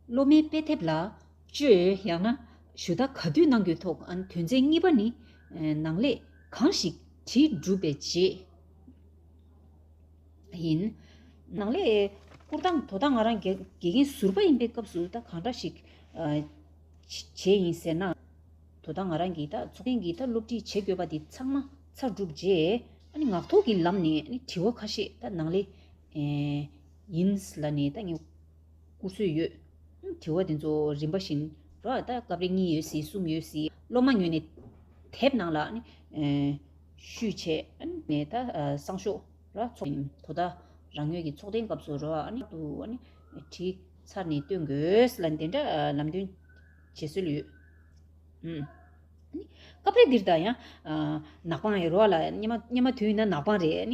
སློབ་མའི་དཔེ་དེབ་ལ་བཅོས་ཡང་ན་ཞུ་དག་ག་དུས་གནང་རྒྱུའི་ཐོག་དོན་ཚན་གཉིས་པ་ནི། ནང་ལས་གང་ཞིག་དྲིལ་སྒྲུབ་པའི་རྗེས་ཡིན། ནང་ལས་བསྐུར་སྟངས་དོ་དག་ང་རང་དགེ་རྒན་ཟུར་པ་ཡིན་པའི་སྐབས་སུ་ད་གང་འདྲ་ཞིག་བྱས་ཡིན་ཟེར་ན། དོ་དག་ང་རང་གིས་ད་ཚོགས་ཐེངས་ཀྱི་ད་སློབ་ཁྲིད་བྱེད་དགོས་པ་དེ་ཚང་མ་ཚར་གྲུབ་རྗེས། ངག་ཐོག་གི་ལམ་ནས་དྲི་བ་ཁ་ཤས་ད་ནང་ལས། ཡིན། ལ་ནི་ད་ངས་བསྐུར་སྲོལ་ཡོད། དྲི་བ་དེ་ཚོ་རིམ་པ་བཞིན། རོ་ཨ་ད་སྐབས་རེ་གཉིས་ཡོད་སྲིད་གསུམ་ཡོད་སྲིད། སློབ་མ་ཉོས་ནས་དེབ་ནང་ལ། བཤུས། བྱས་ནས་ད་གསང་ཤོག་ལ་འཚོགས། དོ་ད་རང་ཉོས་ཀྱི་ཚོགས་ཐེངས་སྐབས་སུ་རོ་ཨ། དུ། བྲིས། ཚར་ནས་སྟོན་དགོས། ལ་འདི་འདྲ་ལམ་སྟོན། བྱེད་སྲོལ་ཡོད། སྐབས་རེ་འདིར་ད་ཡང། ནག་པང་ཡིན། རོ་ཨ་ལ། སྙེ་མ་དུས་ཡིན་ན་ནག་པང་རེད།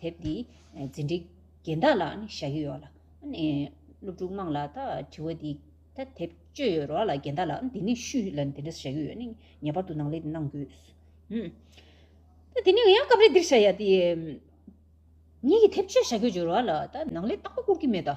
དེབ་འདི་འཛིན་གྲྭའི་རྒན་བདག་ལ་ནི་བཞག་གི་ཡོད་ལ། སློབ་ཕྲུག་དམངས་ལ་ད་དྲི་བ་འདི། ད་དེབ་སྤྱོད་ཡོད་རོགས་ལ་རྒན་བདག་ལ་འདི་ནི་ཤུ་ལ་འདི་འདྲ་བཞག་གི་ཡོད་ནི་ངེས་པར་དུ་ནང་ལེ་འདི་གནང་དགོས། ད་དེ་ནི་ཡང་སྐབས་རེ་འདིར་བཞག་ཡ་དེ། ངེད་ཀྱི་དེབ་སྤྱོད་བཞག་གི་ཡོད་རོགས་ལ་ད་ནང་ལེ་རྟག་པ་བསྐུར་གི་མེད་ད།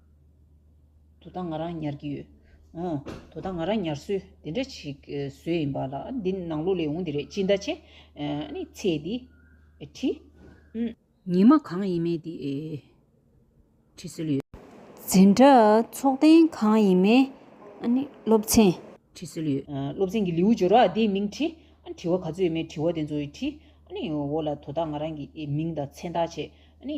དོ་ད་ང་རང་ཉར་གྱི་ཡོད། ཨོ། དོ་ད་ང་རང་ཉར་སྲོལ་དེ་འདྲ་ཞིག་བཟོས་ཡིན་པ་ལ་འདི་ནང་ལོགས་ལས་འོངས་འདི་རེད་ཅི་འདྲ་བྱས། ནི་ཚེ་འདི། བྲིས། ཉི་མ་གང་ཡིན་མེད་འདི། བྲིས་སྲོལ་ཡོད། འཛིན་གྲྭ་ཚོགས་ཐེངས་གང་ཡིན་མེད། ནི་སློབ་ཚན། བྲིས་སྲོལ་ཡོད། སློབ་ཚན་གྱི་ལེའུ་སྦྱོར་བ་དེའི་མིང་བྲིས། དྲི་བ་ག་ཚོད་ཡོད་མེད་དྲི་བ་དེ་ཚོའི་བྲིས། ནི་འོ་ལ་དོ་ད་ང་རང་གི་མིང་དང་མཚན་བཏགས་བྱས། ནི།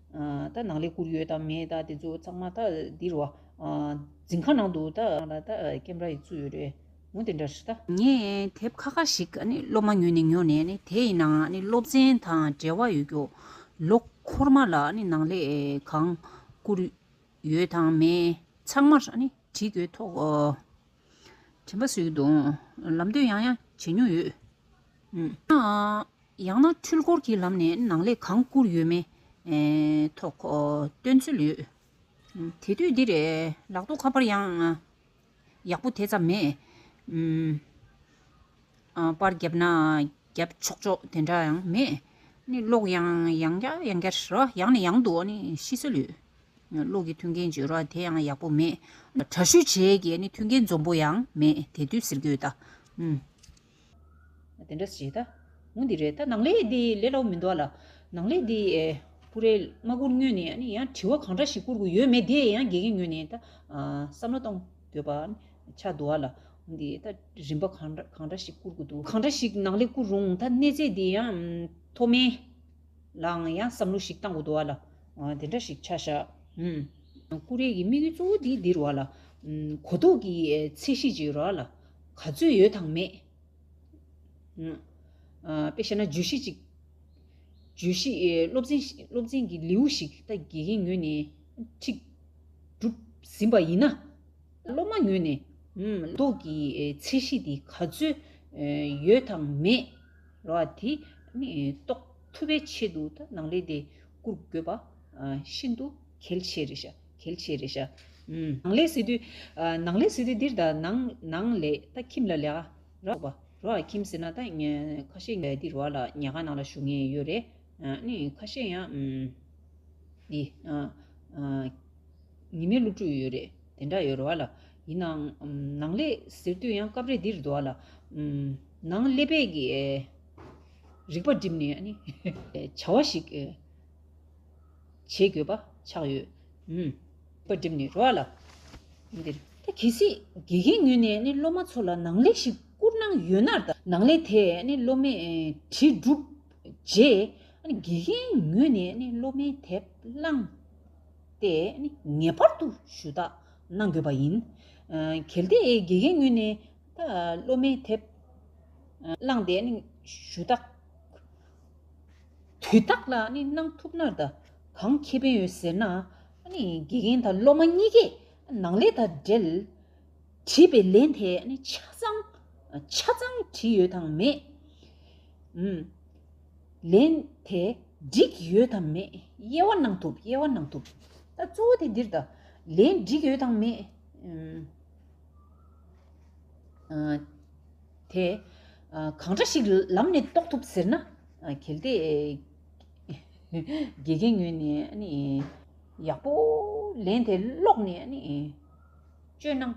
ད་ནང་ལས་བསྐུར་ཡོད་དམ་མེད་དེ་ཚོ་ཚང་མ་ད་འདིར་རོ། འཛིན་ཁང་ནང་དུ་ད་ཀེམ་ར་ཡིས་བཙུགས་ཡོད་རེད་མོ་དེ་འདྲ་རེད། ངས་དེབ་ཁ་ཁ་ཞིག་སློབ་མ་ཉོས་ནས་ཉོ་ནས་དེ་ཡི་ནང་སློབ་ཚན་དང་འབྲེལ་བ་ཡོད་རྒྱུ། ལོ་འཁོར་མ་ལ་ནང་ལས་གང་བསྐུར་ཡོད་དང་མེད་ཚང་མ་བྲིས་དགོས་ཐོག་དྲན་པ་བཟོས་ཀྱི་འདུག་ལམ་སྟོན་ཡང་ཡང་བྱེད་མྱོང་ཡོད། ཡང་ན་འཕྲུལ་འཁོར་གྱི་ལམ་ནས་ནང་ལས་གང་བསྐུར་ཡོད་མེད་ཐོག་སྟོན་ཚུལ་ཡོད། དེ་དུས་འདིར་ལག་ཏུ་ཁ་པར་ཡང་ཡག་པོ་དེ་ཙམ་མེད། པར་བརྒྱབ་ན་བརྒྱབ་ཆོག་ཆོག་དེ་འདྲ་ཡང་མེད། གློག་ཡང་ཡང་བརྒྱ་ཡང་བརྒྱ་རེད། ཡང་ནས་ཡང་དུ་ཤི་སྲོལ་ཡོད། གློག་གི་མཐུན་རྐྱེན་བརྗོད་རོགས་དེ་ཡང་ཡག་པོ་མེད། དྲ་བཤུས་བྱེད་ཀྱི་མཐུན་རྐྱེན་འཛོམས་པོ་ཡང་མེད་དེ་དུས་ཟེར་རྒྱུ་ཡོད་ད། དེ་འདྲ་བྱས་ད། ངུ་འདི་རེད་ད་ནང་ལས་དེ་ལས་ལོག་མི་འདུག་ལ། ནང་ལས་དེ། ཀུ་རེ། མ་ཀུར་ངོས་ནས་ཡང་དྲི་བ་གང་འདྲ་ཞིག་བསྐུར་དགོས་ཡོད་མེད་དེ་ཡང་དགེ་རྒན་ངོས་ནས་ད། བསམ་བློ་གཏོང་དགོས་པ་ཆགས་འདུག་ལ། ངུ་འདི་ད་རིམ་པ་གང་འདྲ་ཞིག་བསྐུར་དགོས་འདུག་གང་འདྲ་ཞིག་ནང་ལས་བསྐུར་རུང་ད་གནས་ཚད་དེ་ཡང། མཐོ་དམན། ལའང་ཡང་བསམ་བློ་ཞིག་བཏང་དགོས་འདུག་ལ། དེ་འདྲ་ཞིག་ཆགས་ཤག། ཀུ་རེ་ཀྱི་དམིགས་ཡུལ་གཙོ་བོ་དེ་འདིར་བ་ལ། གོ་རྟོགས་ཀྱི་ཚད་གཞི་ཅིག་རག་ལ། ག་ཚོད་ཡོད་དང་མེད། དཔེ་བཤད་ན་བརྗོད་གཞི་ཅིག། བརྗོད་གཞི་སློབ་ཚན་སློབ་ཚན་གྱི་ལེའུ་ཞིག་ད་དགེ་རྒན་ངོས་ནས་ཁྲིད། སྒྲུབ། ཟིན་པ་ཡིན་ན། སློབ་མ་ངོས་ནས། རྟོགས་ཀྱི་ཚད་གཞི་དེ་ག་ཚོད་ཡོད་དང་མེད། རོ་ཨ། དེ་ནི་རྟོགས་ཐུབ་པའི་ཆེད་དུ་ད་ནང་ལས་དེ་བསྐུར་དགོས་པ་ཤིན་ཏུ་གལ་ཆེ་རེད། གལ་ཆེ་རེད་ཤག། ནང་ལས་སི་ཏུ། ནང་ལས་སི་ཏུ་འདིར་ད་ནང་ནང་ལས་ད་ཁྱིམ་ལ་ལས་ཀ་ར་ཐོག་པ་རོ་ཨ་ཁྱིམ་ཟེར་ན་ད་ཁ་ཤས་ངའི་འདིར་བ་ལ་ཉལ་ཁང་ནང་ལ་བཞུགས་ངེས་ཡོད་རེད་ནི་ཁ་ཤས་ཡང་འདི་ཉི་མའི་སློབ་ཕྲུག་ཡོད་རེད་དེ་འདྲ་ཡོད་རེད་བ་ལ་ཡིན་ནའང་ནང་ལས་ཟེར་དུས་ཡང་སྐབས་རེ་འདིར་འདུག་བ་ལ་ནང་ཀླད་པས་ཀྱི་རིག་པ་བསྒྲིམས་ནས་བྱ་བ་ཞིག་བྱེད་དགོས་པ་ཆགས་ཡོད། པར་སྒྲིབ་ནི་རོ་ཨ་ལ་འདིར། ད་གལ་སྲིད་དགེ་རྒན་ངོས་ནས་སློབ་མ་ཚོ་ལ་ནང་ལེགས་ཤིག་བསྐུར་གནང་ཡོད་ན། ནང་ལེགས་དེས་སློབ་མའི་དྲིལ་བསྒྲུབས་རྗེས། དགེ་རྒན་ངོས་ནས་སློབ་མའི་དེབ་བླངས་ཏེ་ངེས་པར་དུ་ཞུ་དག་གནང་དགོས་པ་ཡིན། གལ་ཏེ་དགེ་རྒན་ངོས་ནས་སློབ་མའི་དེབ་བླངས་ཏེ་ཞུ་དག། དུས་རྟགས་ལ་གནང་ཐུབ་ན་ད་གང་ཁེ་ཕན་ཡོད་ཟེར་ན། དགེ་རྒན་དང་སློབ་མ་གཉིས་ཀས་ནང་ལས་དང་འབྲེལ་བྲིས་པའི་ལན་དེ་ཆ་ཚང་ཆ་ཚང་བྲིས་ཡོད་དམ་མེད། ལན་དེ་འགྲིག་ཡོད་དམ་མེད་དབྱེ་བ་གནང་ཐུབ་དབྱེ་བ་གནང་ཐུབ། ད་གཙོ་བོ་དེ་འདིར་ད་ལན་འགྲིག་ཡོད་དམ་མེད། དེ་གང་འདྲ་ཞིག་ལམ་ནས་རྟོགས་ཐུབ་ཟེར་ན། གལ་ཏེ། དགེ་རྒན་ངོས་ནས་ཡག་པོ་ལན་དེ་ཀློག་ནས་སྤྱོད་གནང་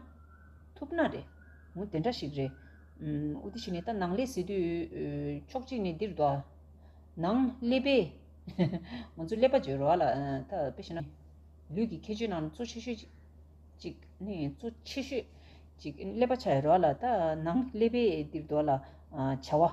ཐུབ་ན་རེད། ངོ་དེ་འདྲ་ཞིག་རེད། ཨོ་དེ་བྱས་ནས་ད་ནང་ལས་ཟེར་དུས་ཕྱོགས་གཅིག་ནས་འདིར་འདུག། ནང་ཀླད་པས། ང་ཚོ་ཀླད་པ་བརྗོད་རོགས་ལ། ད་དཔེ་བྱས་ན། ལུས་ཀྱི་ཁྱད་ཆོས་ནང་གཙོ་ཆེ་ཤོས་གཅིག། གཙོ་ཆེ་ཤོས་གཅིག་ཀླད་པ་ཆགས་ཡོད་རོགས་ལ། ད་ནང་ཀླད་པས་འདིར་འདུག་ལ། བྱ་བ།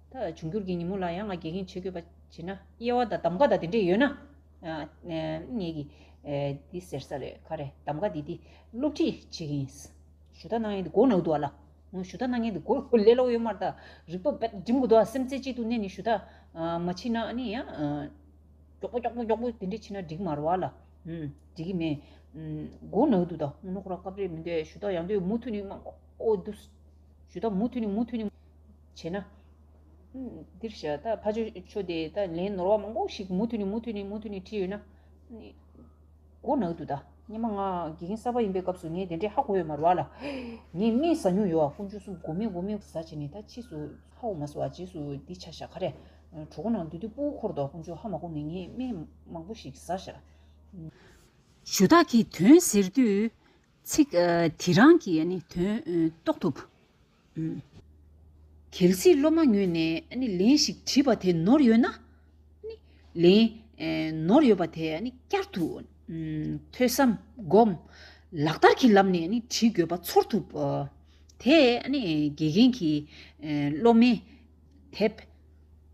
ད་འབྱུང་འགྱུར་གྱི་ཉིན་མོ་ལ་ཡང་ང་དགེ་རྒན་བྱེད་དགོས་པ་བྱས་ན་དབྱེ་བ་དང་གདམ་ཀ་དང་དེ་འདྲས་ཡོད་ན། ངེད་ཀྱིས་འདི་ཟེར་ས་རེད་ཁ་རེད་གདམ་ཀ་འདི་འདི་སློབ་ཁྲིད་བྱེད་ཀྱི་ཡིན། ཞུ་དག་གནང་ཡས་འདི་གོ་ནག་འདུག་ལ། ཞུ་དག་གནང་ཡས་འདི་གོ་ལེ་ལོག་ཡོད་མ་རེད་ད། རིག་པ་འབད་འགྲིམ་དགོས་འདུག་སེམས་རྩེ་གཅིག་ཏུ་གནས་ནས་ཞུ་དག་མ་བྱེད་ན་ནི་ཡང། མགྱོགས་པོ་མགྱོགས་པོ་མགྱོགས་པོ་དེ་འདྲས་བྱེད་ན་འགྲིག་མ་རེད་ལ། འགྲིག་གི་མེད། གོ་ནག་འདུག་ད་སྔོན་ནོག་ར་སྐབས་རེད་མི་འདུག་ཞུ་དག་ཡང་འདུག་མུ་མཐུད་ནས་གནང་དགོས་འདུག། ཞུ་དག་མུ་མཐུད་ནས་མུ་མཐུད་ནས། བྱས་ན། འདིར་བྱ། ཕ་ཆོས་ཆོས་དེ་དག་ལན་ནོར་བ་མང་པོ་ཞིག་མུ་མཐུད་ནས་མུ་མཐུད་ནས་མུ་མཐུད་ནས་བྲིས་ཡོད་ན། མགོ་ནག་ཏུ་དང། སྙན་མ་ངག་དགེ་རྒན་གསར་པ་ཡིན་པའི་སྐབས་སུ་ངས་དེ་འདྲའི་ཧ་གོ་ཡོད་མ་རུ་བ་ལ། ངས་སྨན་ཟ་མྱོང་ཡོད་བ་ཀུན་སྤྱོད་གསུམ་མགོ་མེད་མགོ་མེད་ཟ་བྱས་ནས་ད་ཕྱིས་སུ་ཧ་གོ་མ་སོང་བ་རྗེས་སུ་འདི་བྱ་ཞག་ཁ་རས། གྲོགས་པོ་ནང་དུ་དུས་སྤོ་འཁོར་དོག་ཀུན་སྤྱོད་ཧ་མ་གོ་ནས་ངས་སྨན་མང་པོ་ཞིག་ཟ་ཞག། ཞུ་དག་གིས་དོན་ཟེར་དུས། ཚིག་དེ་རང་གིས་དོན་རྟོགས་ཐུབ། གལ་སྲིད་སློབ་མ་ངོས་ནས་ལན་ཞིག་དྲིས་པ་དེ་ནོར་ཡོད་ན། ལན། ནོར་ཡོད་པ་དེ་བསྐྱར་དུ། ཐོས་བསམ། སྒོམ། ལག་བསྟར་གྱི་ལམ་ནས་དྲིས་དགོས་པ་ཚོར་ཐུབ། དེས་དགེ་རྒན་གྱིས་སློབ་མའི། དེབ།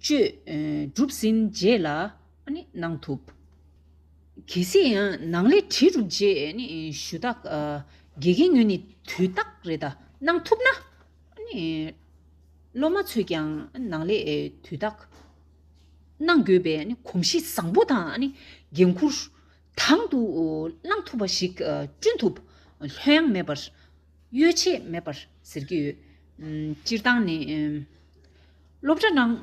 སྤྱོད། གྲུབ་ཟིན་རྗེས་ལ་ཨ་ནི་གནང་ཐུབ། གལ་སྲིད་ནང་ལས་བྲིས་འགྲུབ་རྗེས་ཨ་ནི་ཞུ་དག་དགེ་རྒན་ངོས་ནས་དུས་རྟགས་རེ་ད་གནང་ཐུབ་ན། ཨ་ནི་སློབ་མ་ཚོས་ཀྱང་ནང་ལས་དུས་རྟགས་གནང་དགོས་པའི་ཨ་ནི་གོམས་གཤིས་བཟང་པོ་དང་ཨ་ནི་འགན་འཁུར་དང་དུ་བླངས་ཐུབ་པ་ཞིག་བསྐྲུན་ཐུབ་ལྷོད་ཡངས་མེད་པར། གཡོལ་ཆེད་མེད་པར་ཟེར་གྱི་ཡོད། སྤྱིར་བཏང་ནི། སློབ་གྲྭ་ནང་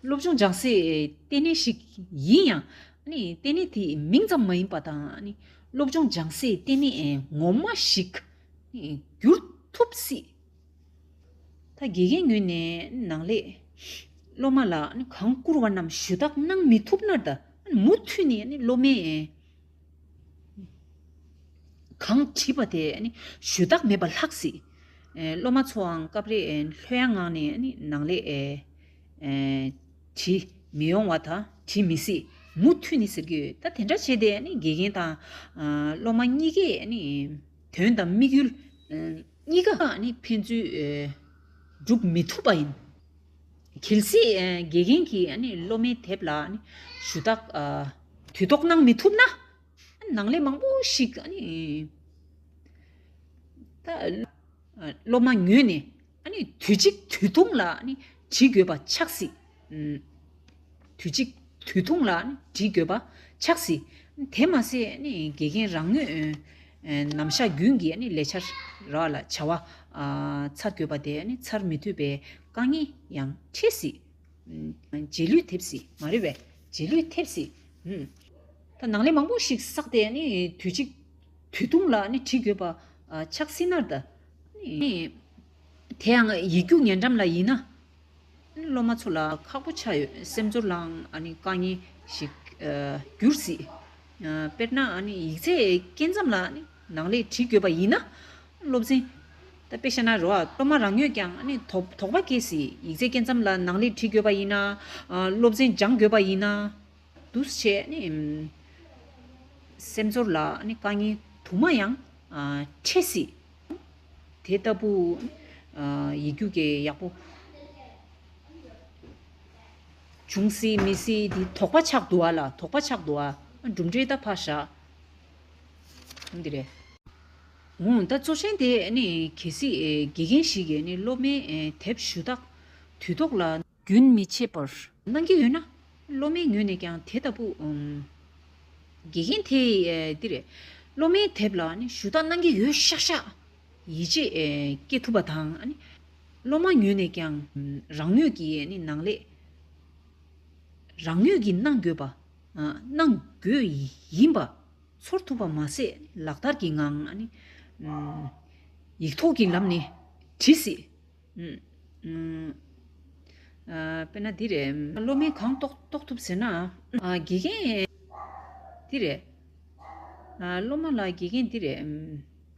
སློབ་ཆུང་སྦྱང་སའི་ལྟེ་གནས་ཤིག་ཡིན་ཡང། ལྟེ་གནས་དེ་མིང་ཙམ་མ་ཡིན་པ་དང། སློབ་ཆུང་སྦྱང་སའི་ལྟེ་གནས་ངོ་མ་ཞིག་འགྱུར་ཐུབ་སྲིད། ད་དགེ་རྒན་ངོས་ནས་ནང་ལས་སློབ་མ་ལ་གང་བསྐུར་བ་རྣམས་ཞུ་དག་གནང་མི་ཐུབ་ན། མུ་མཐུད་ནས་སློབ་མའི། གང་བྲིས་པ་དེ་ཞུས་དག་མེད་པར་ལྷག་སྲིད། སློབ་མ་ཚོའང་སྐབས་རེ་ལྷོད་ཡངས་ངང་ནས་ནང་ལས་བྲིས་མི་ཡོང་བ་དང་བྲིས་མི་སྲིད་མུ་མཐུད་ནི་ཟེར་གྱི་ཡོད། ད་དེ་འདྲ་བྱས་ཏེ་དགེ་རྒན་དང་སློབ་མ་གཉིས་ཀས་དོན་དང་དམིགས་ཡུལ་གཉིས་ཀ་ཕན་ཚུན་བསྒྲུབ་མི་ཐུབ་པ་ཡིན། གལ་སྲིད་དགེ་རྒན་གྱིས་སློབ་མའི་དེབ་ལ་ཞུ་དག་དུས་ཐོག་གནང་མི་ཐུབ་ན། ནང་ལས་མང་པོ་ཞིག་སློབ་མ་ཉོས་ནས་དུས་གཅིག་དུས་ཐུང་ལ་བྲིས་དགོས་པ་ཆགས་སྲིད། དུས་གཅིག་དུས་ཐུང་ལ་བྲིས་དགོས་པ་ཆགས་སྲིད། དེ་མ་ཟད་དགེ་རྒན་རང་ངོས་ནམ་བཞག་རྒྱུན་གྱི་ལས་འཆར་ར་ལ་བྱ་བ་ཚར་དགོས་པ་དེ་ཚར་མི་ཐུབ་པའི་དཀའ་ངལ་ཡང་འཕྲད་སྲིད། རྗེས་ལུས་ཐེབས་སྲིད་མ་རེད་པས། རྗེས་ལུས་ཐེབས་སྲིད། ནང་ལས་མང་པོ་ཞིག་བསགས་ཏེ་དུས་གཅིག་དུས་ཐུང་ལ་བྲིས་དགོས་པ་ཆགས་སྲིད་ནར་འདྲ། དེའང་ཡིག་རྒྱུགས་ཉེ་འགྲམ་ལ་ཡིན་ན། སློབ་མ་ཚོ་ལ་ཁག་པོ་ཆགས་ཡོད་སེམས་ཚོར་ལའང་དཀའ་ངལ་ཞིག་གྱུར་སྲིད། དཔེར་ན། ཡིག་ཚད་སྐྱེལ་མཚམས་ལ་ནང་ལེགས་བྲིས་དགོས་པ་ཡིན་ན། སློབ་ཚན། དཔེ་ཤེས་ན་རོགས་སློབ་མ་རང་ཉོས་ཀྱང་དོགས་པ་སྐྱེ་སྲིད། ཡིག་ཚད་སྐྱེལ་མཚམས་ལ་ནང་ལེགས་བྲིས་དགོས་པ་ཡིན་ན། སློབ་ཚན་སྦྱང་དགོས་པ་ཡིན་ན། འདུ་བྱེད། སེམས་ཚོར་ལ་དཀའ་ངལ་དུ་མ་ཡང་འཕྲད་སྲིད། དེ་ལྟ་བུ། ཡིག་རྒྱུགས་ཀྱི་ཡག་པོ། འབྱུང་སྲིད་མི་སྲིད་འདི་དོགས་པ་ཆགས་འདུག་ཨ་ལ་དོགས་པ་ཆགས་འདུག་ཨ། གྲུབ་འབྲས་ད་ཕར་བཞག་གོང་འདི་རེད། འོང་ད་གཙོ་ཆེན་དེ་ནི་གལ་སྲིད་དགེ་རྒན་ཞིག་གིས་ནི་སློབ་མའི་དེབ་ཞུ་དག་དུས་ཐོག་ལ། རྒྱུན་མི་ཆད་པར། གནང་གི་ཡོད་ན། སློབ་མའི་ངོས་ནས་ཀྱང་དེ་ལྟ་བུ། དགེ་རྒན་དེས་འདི་རེད། སློབ་མའི་དེབ་ལ་ནི་ཞུ་དག་གནང་གི་ཡོད་ཤག་ཤག། ཡིད་ཆེས་བསྐྱེད་ཐུབ་པ་དང། སློབ་མ་ཉོས་ནས་ཀྱང་རང་ནུས་ཀྱིས་གནང་ལེགས། རང་ནུས་ཀྱིས་གནང་དགོས་པ། གནང་དགོས་ཡིན་པ། ཚོར་ཐུབ་པ་མ་ཟད་ལག་བསྟར་གྱི་ངང། ཡིག་ཐོག་གི་ལམ་ནས་བྲི་སྲིད། དཔེར་ན་འདི་རེད། སློབ་མས་གང་རྟོགས་ཐུབ་ཟེར་ན། དགེ་རྒན། འདི་རེད། སློབ་མ་ལགས་དགེ་རྒན་འདི་རེད།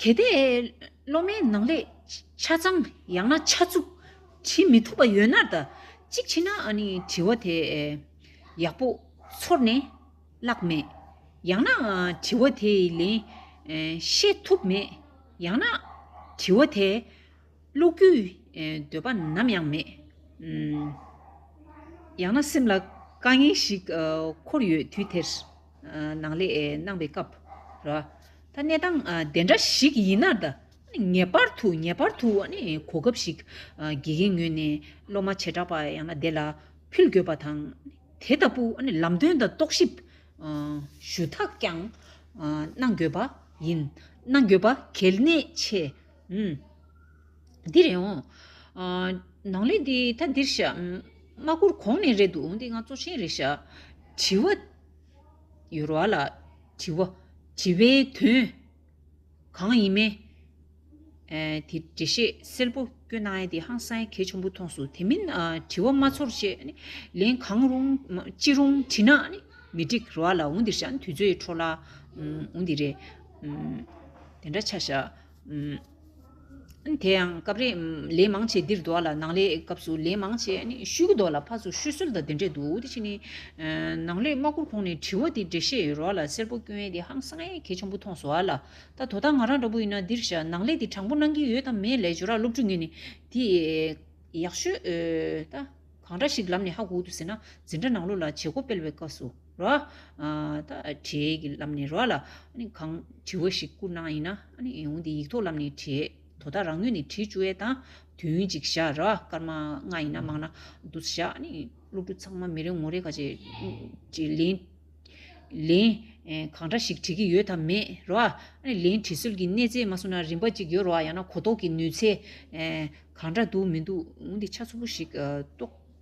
གལ་ཏེ་སློབ་མའི་ནང་ལས་ཆ་ཚང་ཡང་ན་ཆ་བཅུ་བྲི་མི་ཐུབ་པ་ཡོད་ན་ཟླ་གཅིག་ཕྱིན་ན་བྲི་བ་དེ་ཡག་པོ་ཚོར་ནས་བཀླགས་མེད་ཡང་ན་བྲི་བ་དེ་ཡི་ལན་ཤེས་ཐུབ་མེད་ཡང་ན་བྲི་བ་དེ་ཀློག་རྒྱུའི་འདོད་པ་ནམ་ཡང་མེད། ཡང་ན་སེམས་ལ་དཀའ་ངལ་ཞིག་འཁོར་ཡོད་དུས་དེར། ནང་ལས་གནང་བའི་སྐབས་ར། ད་གནས་སྟངས་དེ་འདྲ་ཞིག་ཡིན་ན་ད། ངེས་པར་དུ་ངེས་པར་དུ་གོ་སྐབས་ཤིག་དགེ་རྒན་ངོས་ནས་སློབ་མ་བྱེ་བྲག་པ་ཡང་ན་དེ་ལ་ཕུལ་དགོས་པ་དང། དེ་ལྟ་བུ་ལམ་སྟོན་དང་རྟོག་ཞིབ་ཞུ་དག་ཀྱང་གནང་དགོས་པ་ཡིན། གནང་དགོས་པ་གལ་གནད་ཆེ། འདི་རེད་འོང། ནང་ལས་འདི་ད་འདིར་བཞག། མ་བསྐུར་གོང་ནས་རེད་འདུག་འདི་ང་གཙོ་ཆེན་རེད་བཞག། དྲི་བ། ཡོལ་བ་ལ་དྲི་བ། དྲི་བའི་དོན། གང་ཡིན་མེད། དེ་འདྲི་བཤད་སེལ་པོ་སྐྱོ་ནའི་དེ་ཧང་སངས་གལ་ཆེན་པོ་མཐོང་སོང་དེ་མིན་དྲི་བ་མ་ཚོར་བྱེད། ལན་གང་རུང་ཅི་རུང་དྲི་ན། མི་འགྲིག་རོ་བ་ལ་འོང་འདིར་བཞག་དུས་ཚོད་འཕྲོ་བརླག་འོང་འདི་རེད། དེ་འདྲ་ཆ་བཞག། དེ་ཡང་སྐབས་རེ་ལན་མང་ཆེ་འདིར་འདུག་ལ་ནང་ལས་སྐབས་སུ་ལན་མང་ཆེ་ཤུལ་གྱི་འདུག་ལ་ཕར་ཚུར་ཤུལ་སོལ་དང་དེ་འདྲས་འདུག་དེ་བཞིན་ནང་ལས་དམག་འཁུར་ཁོང་ནས་དྲི་བ་དེ་འདྲས་བཤད་ཡོད་རོགས་ལ་སེར་པོ་སྐྱོན་ཡས་དེ་ཧང་སངས་ཡས་གལ་ཆེན་པོ་མཐོང་སོང་ལ་ད་དོ་ད་ང་རང་འདྲ་པོ་ཡིན་ན་འདིར་བཞག་ནང་ལས་དེ་དྲང་པོ་གནང་གི་ཡོད་དམ་མེད་ལས་ཇོ་རག་སློབ་ཕྲུག་ངས་ནི་དེ་ཡག་ཤོས་ད་གང་འདྲ་ཞིག་ལབ་ནས་ཧ་གོ་དུ་ཟེར་ན་འཛིན་གྲྭ་ནང་ལོ་ལ་བྱེད་སྒོ་སྤེལ་བའི་སྐབས་སུ། རོ། ད་དྲེད་ཀྱི་ལམ་ནས་རོ། ལ་གང་དྲི་བ་ཞིག་བསྐུར་ན་ཡིན། འོན་ཏེ་ཡིག་ཐོག་ལམ་ནས་དྲེད། དོ་ད་རང་ངོས་ནས་དྲི་བཅུ་བས་དང། དོན་གཅིག་བཞག་རོ། སྐར་མ་ལྔ་ཡིན་ན་མང་ན་དུ་བཞག། སློབ་ཕྲུག་ཚང་མ་མི་རེ་ངོ་རེ་ག་ཅེས། ལན། གང་འདྲ་ཞིག་དྲི་གི་ཡོད་དམ་མེད་རོ། ལན། དྲི་སོལ་གྱི་གནས་ཚད་མ་སོང་ན་རིན་པ་གཅིག་ཡོད་རོ། ཡང་ན་གོ་རྟོགས་ཀྱི་ནུས་ཚད། གང་འདྲ་འདུག་མི་འདུག་འོན་ཏེ་ཆ་ཚུགས་པོ་ཞིག་རྟོགས།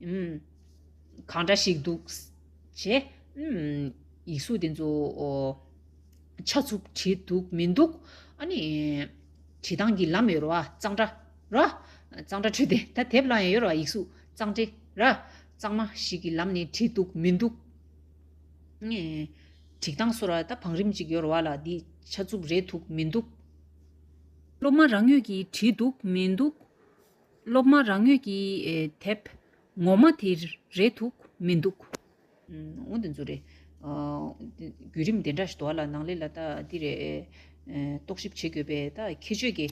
གང་འདྲ་ཞིག་འདུག། ཞེས་ཡིག་གཟུགས་དེ་ཚོ་ཆ་ཚུགས་བྲིས་འདུག་མི་འདུག། བྲིས་སྟངས་ཀྱི་ལམ་ཡོད་རེད་བ། གཙང་སྦྲ། གཙང་སྦྲ་བྲིས་ཏེ་ད་དེབ་བླངས་ཡོད་རེད་བ་ཡིག་གཟུགས་གཙང་སྦྲའི། གཙང་མ་ཞིག་གི་ལམ་ནས་བྲིས་འདུག་མི་འདུག། བྲིས་སྟངས་སོགས་ལ་ད་བང་རིམ་གཅིག་ཡོད་རེད་བ་ལ་འདི་ཆ་ཚུགས་རེད་འདུག་མི་འདུག། སློབ་མ་རང་ཡོད་ཀྱིས་བྲིས་འདུག་མི་འདུག། སློབ་མ་རང་ངོས་ཀྱིས་དེབ་ངོ་མ་དེ་རེད་འདུག་མི་འདུག། འོན་ཏེ་འཛུ་རེད། བརྒྱུད་རིམ་དེ་འདྲ་ཞིག་ཏུ་ལ་ནང་ལས་ལ་ད་འདི་རེད། རྟོག་ཞིབ་བྱེད་དགོས་པའི་ད་ཁྱད་ཆོས་ཀྱི་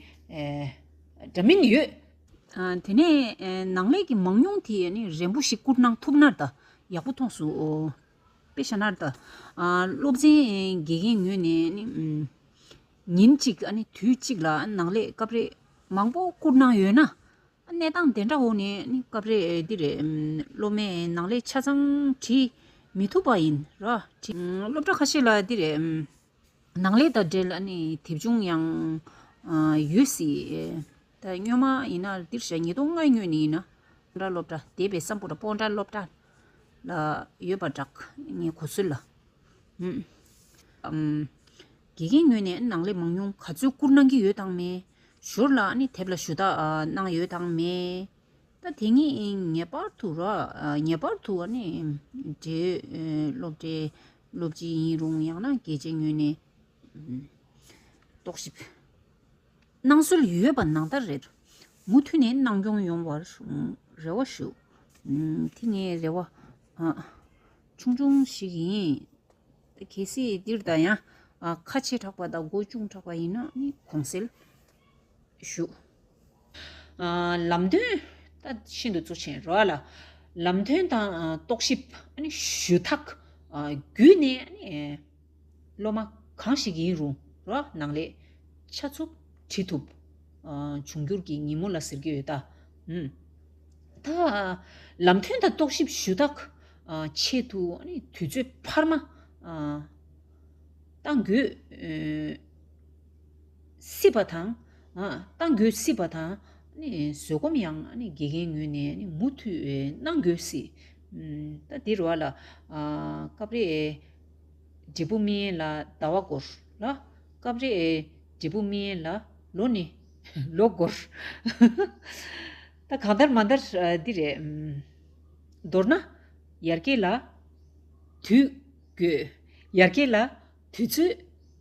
འདྲ་མིན་ཡོད། དེ་ནས་ནང་ལས་ཀྱི་མང་ཉུང་དེ་ཡང་རན་པོ་ཞིག་བསྐུར་གནང་ཐུབ་ན་ད་ཡག་པོ་མཐོང་སོང། པེ་ཞཱ་ནར་ཏཱ། སློབ་ཆེན་དགེ་རྒན་ངོས་ནས་ཉིན་གཅིག་དུས་གཅིག་ལ་ནག་ལས་སྐབས་རེ་མང་པོ་བསྐུར་གནང་ཡོད་ན། གནས་སྟངས་དེ་འདྲ་འོག་ནས་སྐབས་རེ་འདིར་སློབ་མས་ནག་ལས་ཆ་ཚང་བྲིས་མི་ཐུབ་པ་ཡིན། སློབ་གྲྭ་ཁ་ཤས་ལ་འདིར་ནགས་ལས་དང་འབྲེལ་ནས་དེབ་ཆུང་ཡང་ཡོད་སྲིད། སྨྱོན་མ་ཡིན་ན་འདིར་བཤད་ཉིས་སྟོང་ལྔའི་སྨྱོན་ནི་ཡིན། སྤོ་འདྲ་སློབ་གྲྭ་སྡེ་པའི་བསམ་བོ་ར་སྤོ་འདྲ་སློབ་གྲྭ། ལ་ཡོད་པར་གྲགས། ངའི་གོ་ཚོད་ལ། དགེ་རྒན་སྨྱོན་ནས་ནགས་ལས་མང་ཉུང་ག་ཚོད་བསྐུར་གནང་གི་ཡོད་དང་མེད། ཞོར་ལ་དེབ་ལ་ཞུ་དག་གནང་ཡོད་དང་མེད། དེ་གཉིས་ངེས་པར་དུ་ར་ངེས་པར་དུ་འབྲེལ་ཡོད་སློབ་གྲྭའི་སློབ་སྤྱི་ཡིན་རུང་ཡང་ན་རྒྱལ་གཅེས་ཉོན་ནས། རྟོག་ཞིབ་གནང་སྲོལ་ཡོད་པ་ནང་ལྟར་རེད། མུ་མཐུད་ནས་གནང་སྐྱོང་ཡོང་བར་རེ་བ་ཞུ། དེ་ངའི་རེ་བ་ཆུང་ཆུང་ཞིག་ཡིན། གལ་སྲིད་འདིར་ད་ཡང་ཁ་ཆེ་དྲགས་པ་དང་མགོ་ཅུང་དྲགས་པ་ཡིན་ན་ནི་གོང་གསལ། བཞུགས། ལམ་སྟོན། ཤིན་ཏུ་གཙོ་ཆེན་རོལ་ལ། ལམ་སྟོན་དང་རྟོག་ཞིབ། ཞུ་དག། བརྒྱུད་ནས། སློབ་མ་གང་ཞིག་ཡིན་རུང་རོགས་གནང་ལེགས། ཆ་ཚུགས་དྲི་ཐུབ། འབྱུང་འགྱུར་གྱི་ཉིན་མོ་ལ་ཟེར་གྱི་ཡོད། ད། ལམ་སྟོན་དང་རྟོག་ཞིབ་ཞུ་དག། ཆེད་དུ། དུས་ཚོད་འཕར་མ། གཏང་དགོས། སྲིད་པ་དང། གཏང་དགོས་སྲིད་པ་དང། བཟོད་སྒོམ་ཡང་དགེ་རྒན་ངོས་ནས་མུ་མཐུད་གནང་དགོས་སྲིད། ད་འདིར་བ་ལ། སྐབས་རེ་འབྲས་བུ་སྨིན་ལ་ཟླ་བ་འགོར་ལ། སྐབས་རེ་འབྲས་བུ་སྨིན་ལ་ལོ་ནི་ལོ་འགོར། ད་གང་ལྟར་མ་འདར་འདི་རེད། མདོར་ན། ཡར་སྐྱེས་ལ་དུས་དགོས། ཡར་སྐྱེས་ལ། དུས་ཚོད་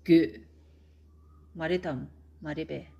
རྒྱུས། མ་རེད་དམ་མ་རེད་པས།